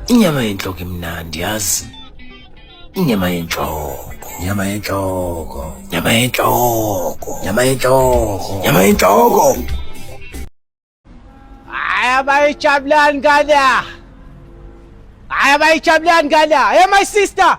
Inyama yenhloko imnandi yazi. Inyama yenhloko. Nyama yenhloko. Nyama yenhloko. Nyama yenhloko. Nyama yenhloko. Aya bayijabulani ngala. Aya bayijabulani ngala. Hey my sister.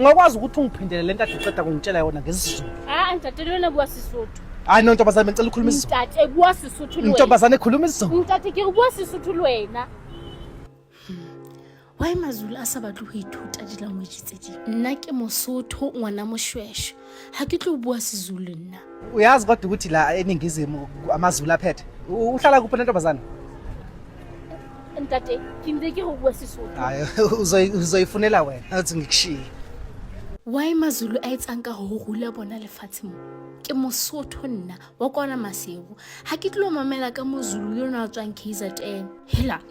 Ngakwazi ukuthi ungiphindele lento ade uqeda kungitshela yona ngesizulu. Ah, angitatele wena buwa sisuthu. Hayi no ntombazane ngicela ukhuluma isiZulu. Mtate buwa sisuthu lwena. Ntombazane khuluma isiZulu. Mtate ke buwa sisuthu lwena. Why mazulu a sa batle ho ithuta di-language tse ding nna ke mosotho ngwana moshweshwe ha ke tlo bua sizulu nna uyazi kodwa ukuthi la eningizimu amazulu aphethe U- uhlala kuphi lentombazane ntate ke ntse ke go bua sesotho hayi uzoyi- uzoyifunela wena uthi ngikushiye why mazulu a etsang ka go rula bona lefatshe mo ke mosotho nna wa kwana masebo ga ke tlilo mamela ka mozulu yo ne a tswang kzn hela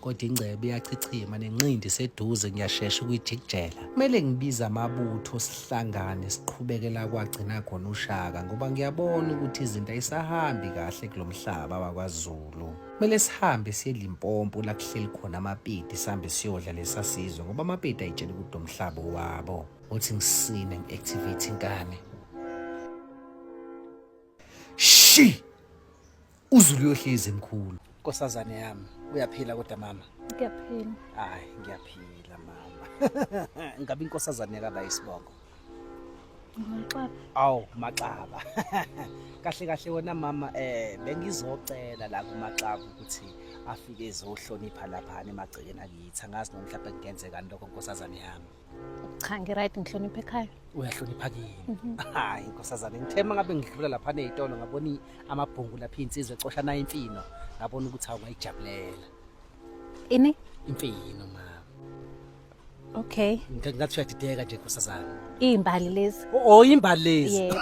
kodwa ingcebo iyachichima nenqindi seduze ngiyashesha ukuyijikijela kumele ngibize amabutho sihlangane siqhubekela kwagcina khona ushaka ngoba ngiyabona ukuthi izinto ayisahambi kahle kulo mhlaba wakwazulu kumele sihambe siye limpompo la kuhleli khona amapidi sihambe siyodla lesasizwe ngoba amapidi ayitshela ukuthi lo mhlaba wabo uthi ngisine ngi-activate inkani shi uzulu uyohlezi mkhulu nkosazane yami uyaphila kodwa mama ngiyaphila hayi ngiyaphila mama ngabe inkosazane yakaba isibongo Maxaba. Awu Maxaba. Kahle kahle wena mama eh bengizocela la kuMaxaba ukuthi afike ezohlonipha lapha emagcekeni akithi. Angazi noma mhlawumbe kungenzeka lokho nkosazane yami. cha ngiright ngihlonipha ekhaya uyahlonipha kini mhm. hayi nkosazane ngithema ngabe ngidlula lapha nezitolo ngabona amabhungu lapha insizwe ecosha nayo imfino ngabona ukuthi awungayijabulela ini imfino ma Okay. Ngathi uyadideka nje nkosazana. Izimbali lezi. Oh, oh izimbali lezi. Yebo.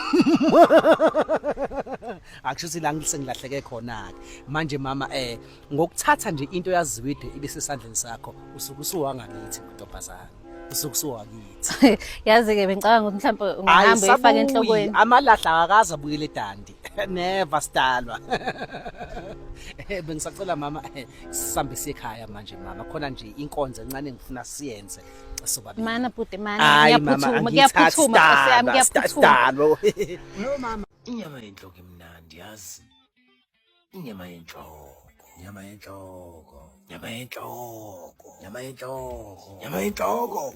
Akushuthi la ngisengilahleke khona ke. Manje mama eh ngokuthatha nje into yaziwide ibe sesandleni sakho usuke usuwangakithi ntombazana usuke usuwakithi yazi ke bengicabanga ukuthi mhlawumbe ungahamba uyifaka enhlokweni amalahla akaza buyele dandi never sidalwa eh, bengisacela mama eh, sisambe sikhaya manje mama khona nje inkonzo encane ngifuna siyenze sobabili mana bhuti mana ngiyaphuthuma ngiyaphuthuma siyami ngiyaphuthuma no mama inyama yenhloko imnandi yazi inyama yenhloko nyama yenhloko nyama yenhloko nyama yenhloko nyama yenhloko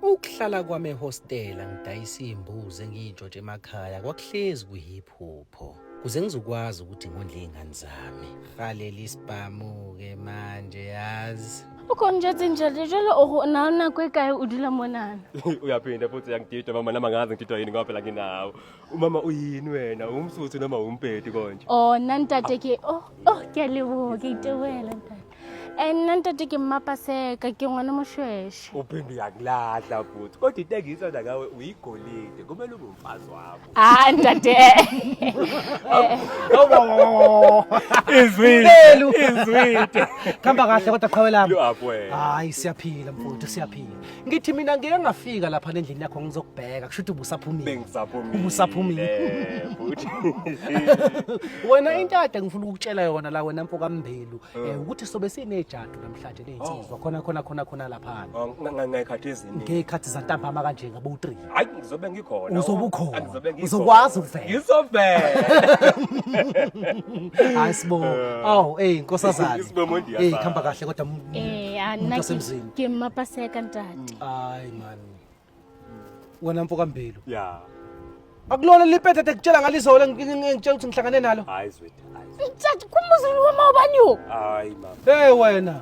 ukuhlala kwami ehostela ngidayisa iy'mbuzi engiyintshotshe emakhaya kwakuhlezi kwi-hip hop pho kuze ngizokwazi ukuthi ngondle izingane zami rhalela isibhamu ke manje yazi ukhona nje tsinjalo jalo o na o nako e kae o dula monana uyaphinda futhi uyangidida mama nama ngazi ngididwa yini ngoba phela nginawo umama uyini wena umsuthu noma umpedi konje o oh, nna ntate ke o oh, o oh, ke a leboga ke itewela ntate and nna ntate ke mmapaseka ke ngwane moshweshe uphinde uyakulahla futhi kodwa into engiyithanda ngawe uyigolide kumele ube umfazi wakho hayi ntate izwile izwile khamba kahle kodwa qhawe lami hayi siyaphila mfowethu siyaphila ngithi mina ngeke ngafika lapha endlini yakho ngizokubheka kusho ukuthi ubusaphumile bengisaphumile ubusaphumile futhi wena into ade ngifuna ukukutshela yona la wena mfo kaMbelu eh, eh. ukuthi sobe sinejadu namhlanje lezinsizwa oh. khona khona khona khona lapha oh, ngekhathi ezini ngekhathi zantambama kanje ngabo 3 hayi ngizobe ngikhona Uzobe ukhona. Angizobe ngikhona. Uzokwazi ukuvela. ngizovela hayi sibo awu eyi nkosazane Isibo Mondi eyi yafana. kuhamba kahle kodwa m- Eh, a nna ke- wasemzini. ke mmapaseka ntate hayi mani wena mfo kambilu ya akulona lipetete ekutshela ngalizolo engitshela ukuthi ngihlangane nalo hayi zwethu hayi ntate kumuzulu wama ubani wo hayi mama hey wena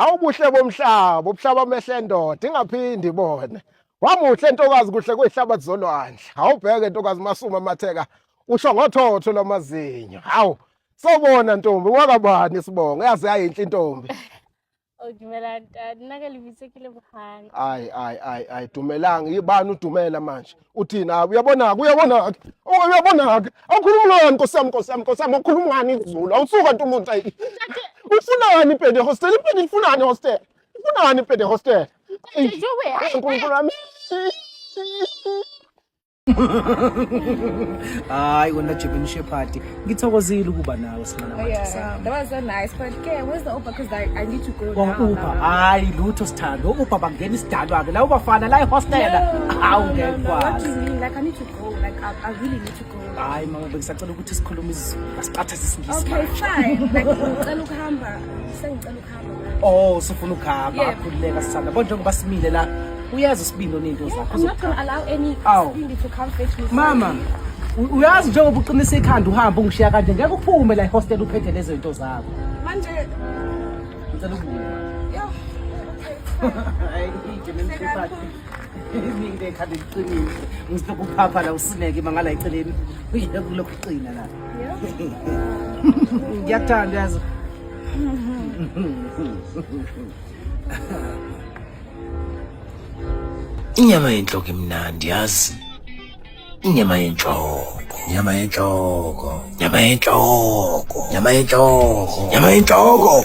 Awubuhle bomhlaba, ubuhlaba amehle ndoda ingaphindi ibone. Wamuhle ntokazi kuhle kwehlabathi zolwandle. Awubheke ntokazi masuma matheka usho ngothotho lwamazinyo. Hawu, sobona ntombi wakabani sibonga yaze yayinhle intombi. Oh, dumelang ntate. Nna ka lebitso ke Lebohang. Ai ai ai ai dumelang yibani udumela manje. Uthini ah uyabona ke uyabona ke. Oh uyabona ke. Awukhuluma ngani Nkosi yami Nkosi yami Nkosi yami awukhuluma ngani isiZulu. Awusuka nto umuntu ayi. Ufunani impede hostel impede ifunani hostel. Ifunani impede hostel. Ai, Nje wena. Nkulunkulu wami. hayi wena jibini shephadi ngithokozile ukuba nawe simanauber hayi lutho sithando uber bangena isidalwa-ke la ubafana la ihostela hawu ngekwazi hayi mama bengisacela ukuthi sikhulume izulu asiqatha sisingisi okay fine like ngicela ukuhamba sengicela Oh, sifuna ukuhamba Yeah. akhululeka sithanda. Kodwa njengoba simile la, uyazi isibindi onento zakho. I'm not gonna allow any Aw. Sindi to come fetch me. Mama, u- uyazi njengoba uqinisa ikhanda uhamba ungishiya kanje ngeke uphume la ehostel uphethe lezo zinto zakho. Manje, Ngicela ukubuya. yo, Hayi, ije nemhluphathi. Ngike ekhanda eliqinile. Ngizile kuphapha la usineke mangala eceleni. Uyeke kulokhu uqina la. yo. Ngiyakuthanda yazi. inyama yenhloko imnandi yazi inyama yenhloko nyama yenhloko nyama yenhloko nyama yenhloko nyama yenhloko